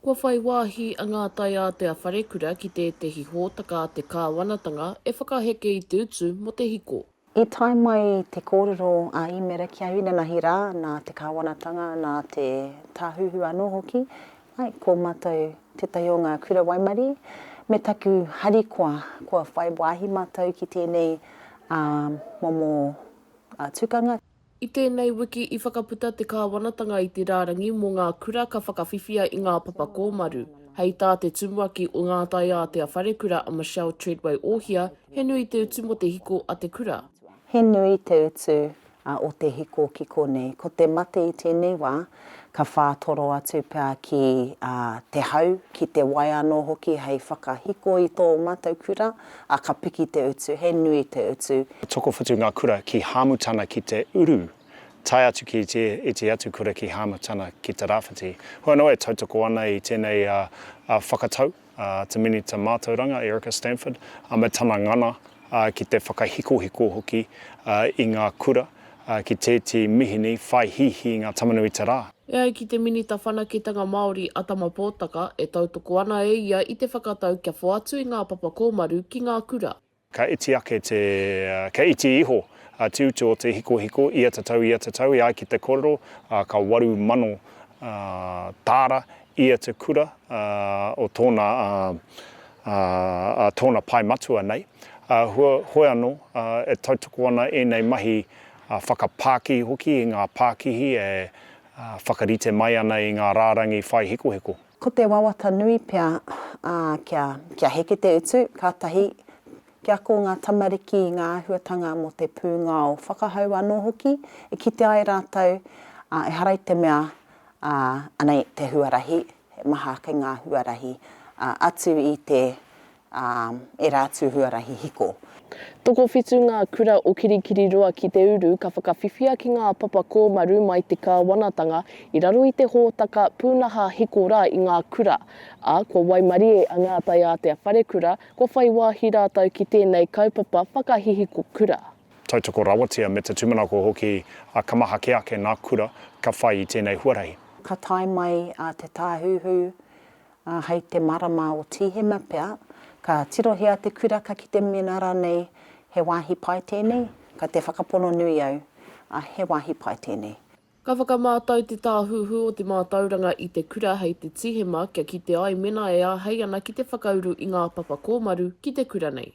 Kua whai wāhi a Ngātai Ātea Wharekura ki tētehi hōtaka a te kāwanatanga e whakaheke i te utu mō te hiko. I tae mai te kōrero a Īmera ki a Inanahi rā, nā te kāwanatanga, nā te Tāhuhu anō hoki, āe, ko mātou tētahi o ngā kura waimarie, me taku harikoa kua whai wāhi mātou ki tēnei momo tukanga. I tēnei wiki i whakaputa te Kāwanatanga i te rārangi mō ngā kura ka whakawhiwhia i ngā papa kōmaru. Hei tā te tumuaki o Ngā Taiātea Wharekura a Michelle Treadway Ohia, he nui te utu mō te hiko a te kura. He nui te utu o te hiko ki konei. Ko te mate i tēnei wā, Ka whātoro atu pea ki te hau, ki te wai anō hoki hei whakahiko i tō mātou kura, ā, ka piki te utu, he nui te utu. Ka tokowhitu ngā kura ki Hāmutana ki te uru, tae atu ki te iti atu kura ki Hāmutana ki te rāwhiti. Hua noa e tautoko ana i tēnei whakatau. a Te Minita Mātauranga, Erica Stanford, me tana ngana ki te whakahikohiko hoki i ngā kura ki tētī mihini whai hīhī i ngā tamanuita rā. E ai ki te Minita Whanaketanga Māori a Tama Potaka, e tautoko ana e ia i te whakatau kia whoatu i ngā papa kōmaru ki ngā kura. Ka iti ake te, ka iti iho te utu o te hikohiko ia tatau, ia tatau, e ai ki te korero, ka waru mano tāra ia te kura o tōna, tōna pae matua nei. Heoi anō, e tautoko ana ēnei mahi whakapākihi hoki i ngā pākihi e whakarite mai ana i ngā rārangi whai hikohiko. Ko te wawata nui pea, ā, kia, kia heke te utu, kātahi, kia ako ngā tamariki i ngā āhuatanga mō te pūngao whakahau anō hoki, e kite ai rātou, ā, ehara i te mea, ā, anei te huarahi, he maha kei ngā huarahi, ā, atu i te, ā, ērā atu huarahi hiko. Tokowhitu ngā kura o Kirikiriroa ki te uru ka whakawhiwhia ki ngā papa kōmaru mai te kāwanatanga i raro i te hōtaka pūnaha hiko rā i ngā kura, ā, kua waimarie a Ngātai Ātea Wharekura kua whai wāhi rātou ki tēnei kaupapa whakahihiko kura. Tautoko rawatia me te tūmanako hoki a Ka maha kē ake ngā kura ka whai i tēnei huarahi. Ka tae mai a Te Tāhuhu Ā, hei te marama o Tīhema pea, ka tirohia te kura ka kite mēnā rānei he wāhi pai tēnei, ka te whakapono nui au, ā, he wāhi pai tēnei. Ka whakamātau te Tāhuhu o te Mātauranga i te kura hei te Tīhema kia kite ai mēnā e āhei ana ki te whakauru i ngā papa kōmaru ki te kura nei.